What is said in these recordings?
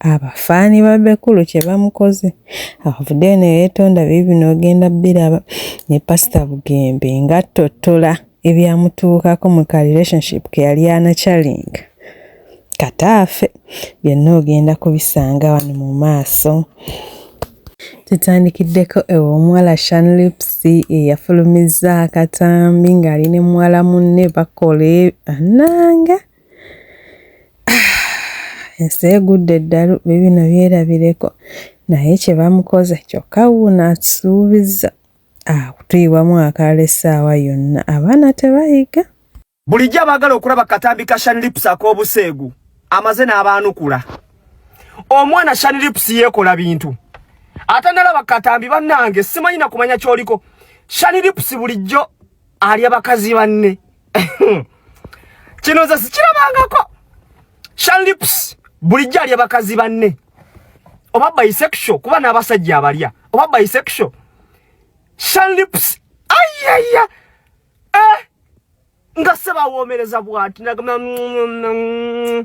abafaani ba Bekulu kye bamukoze avuddeyo ne yeetonda bye bino ogenda biraba ne pasita Bugembe ng'attottola ebyamutuukako mu ka relationship ke yali anacalinga kataafe byonna ogenda kubisanga wano mu maaso tutandikiddeko ew'omuwala shanlips eyafulumizza akatambi ng'ali ne muwala munne bakola ananga e, ensi egudde eddalu bibino byerabireko naye kye bamukoze kyokka wuuno asuubizza akutuyiwamu akaala essaawa yonna abaana tebayiga bulijjo abaagala okulaba katambi ka shanlips ak'obuseegu amaze n'abaanukula omwana shanlips yeekola bintu ate nalaba katambi bannange simanyi na kumanya ky'oliko shanlips bulijjo alya bakazi banne kino nze sikirabangako shanlips bulijjo alya bakazi banne oba bisexual kuba n'abasajja abalya oba bisexual shanlips ayaya eh! nga sebawoomereza bwati nagamba mm, mm, mm,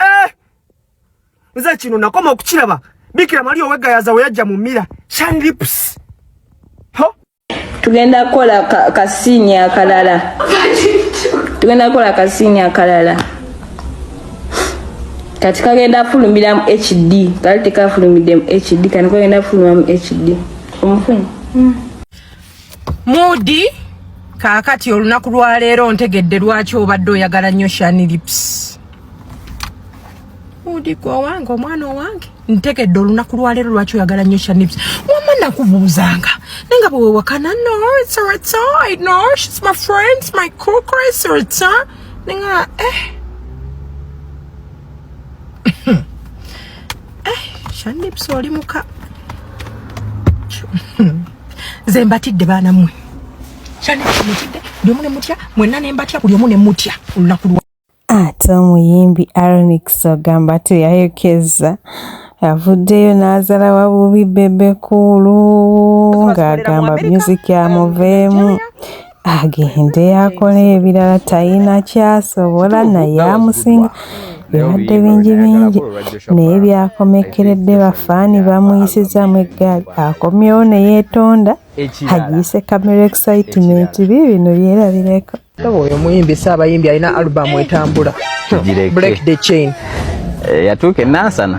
eh! nze kino nakoma okukiraba bikira mali owegayaza weyajja mu mira shan lips tugenda kukola kasiini akalala tugenda kukola kasiini akalala kati kagenda fulumiramu hd kali tekafulumidemu hd kani kagenda fulumiramu hd omufuni mm. Mudi kakati olunaku lwa leero ntegedde lwaki obadde oyagala nnyo Shani Lips. Mudi gwe owange omwana owange ntegedde olunaku lwa leero lwaki oyagala nnyo Shani Lips. Wamma nakubuuzanga naye nga bwe wewakana no it's a it's a no she's my friend it's my cool Chris or it's a ninga eh eh Shani Lips oli muka nze mbatidde baana mmwe kyane kimutidde buli omu ne mutya mwenna ne mbatya buli omu ne mutya olunaku lwa ate omuyimbi aronix ogamba teyayokezza avuddeyo n'azala wabubi bebekuulu ng'agamba myuziki amuveemu agende akola ebirala talina kyasobola naye amusinga bibadde bingi bingi naye byakomekkeredde bafaani bamuyisizaamu eggaali akomyewo ne yeetonda agiise camera excitement bi bino byerabireko oyo muyimbi si abayimbi alina alubamu etambula break the chain eh, yatuuka enansana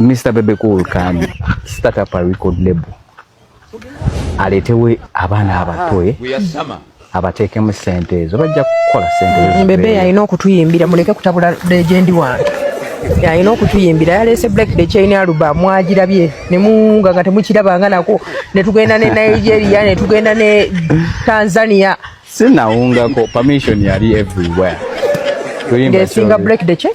Mr. Bebe Cool can start up a record label. Aletewe abana abatoe. Ah, we are summer. Abatekemu sente ezo bajja kukola sente. Bebe yalina okutuyimbira muleke kutabula legend wange. Yalina okutuyimbira yaleese Black the Chain Aluba mwagirabye ne munga nga temukiraba nga nako ne tugenda ne Nigeria ne tugenda ne Tanzania. Sina unga ko permission yali everywhere. Tuyimbira. Ngesinga Black the Chain.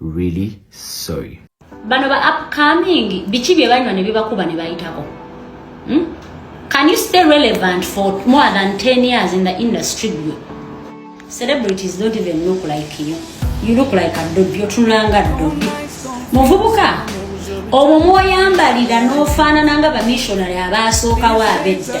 really sorry bano ba upcoming biki bye banywa ne bibakuba ne bayitako hmm? can you stay relevant for more than 10 years in the industry gwe celebrities don't even look like you you look like a dobi otunulanga dobi muvubuka obwo mwoyambalira n'ofaanana nga bamishonary abaasookawo abedda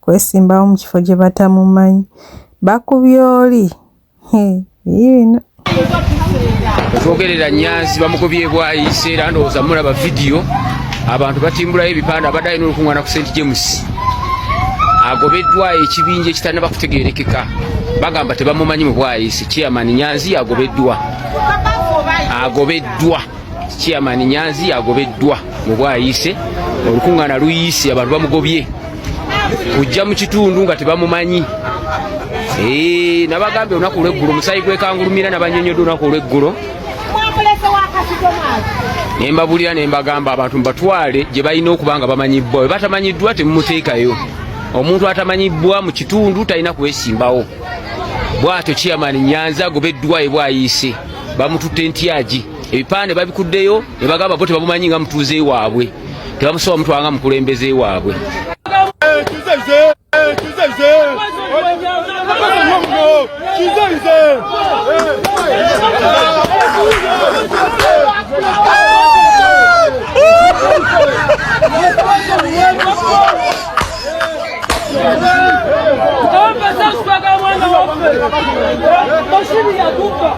kwesimbawo mu kifo gye batamumanyi bakubye oli bino twogerera nyanzi bamukubye bwayise era ndowooza mulaba vidiyo abantu batimbulayo ebipande abadde alina olukuŋŋana ku st james agobeddwa ekibinja ekitanaba kutegerekeka bagamba tebamumanyi mu bwayise chairman nyanzi agobeddwa agobeddwa chairman nyanzi agobeddwa mu bwayise olukuŋŋana luyise abantu bamugobye kujja mu kitundu nga tebamumanyi eh, nabagambye olunaku olweggulo omusayi gwekangulumira nabanyonyodde olunaku olweggulo nembabulira nembagamba abantu mubatwale gye balina okuba nga bamanyibbwa we batamanyiddwa temumuteekayo omuntu atamanyibbwa mu kitundu talina kwesimbawo bwatyo chairman nyanzi agobeddwa ebwayiise bamututte ntyagi ebipande babikuddeyo nebagamba bo tebamumanyi nga mutuuze waabwe tebamusoba mutwala nga mukulembeze waabwe Bashiri ya duka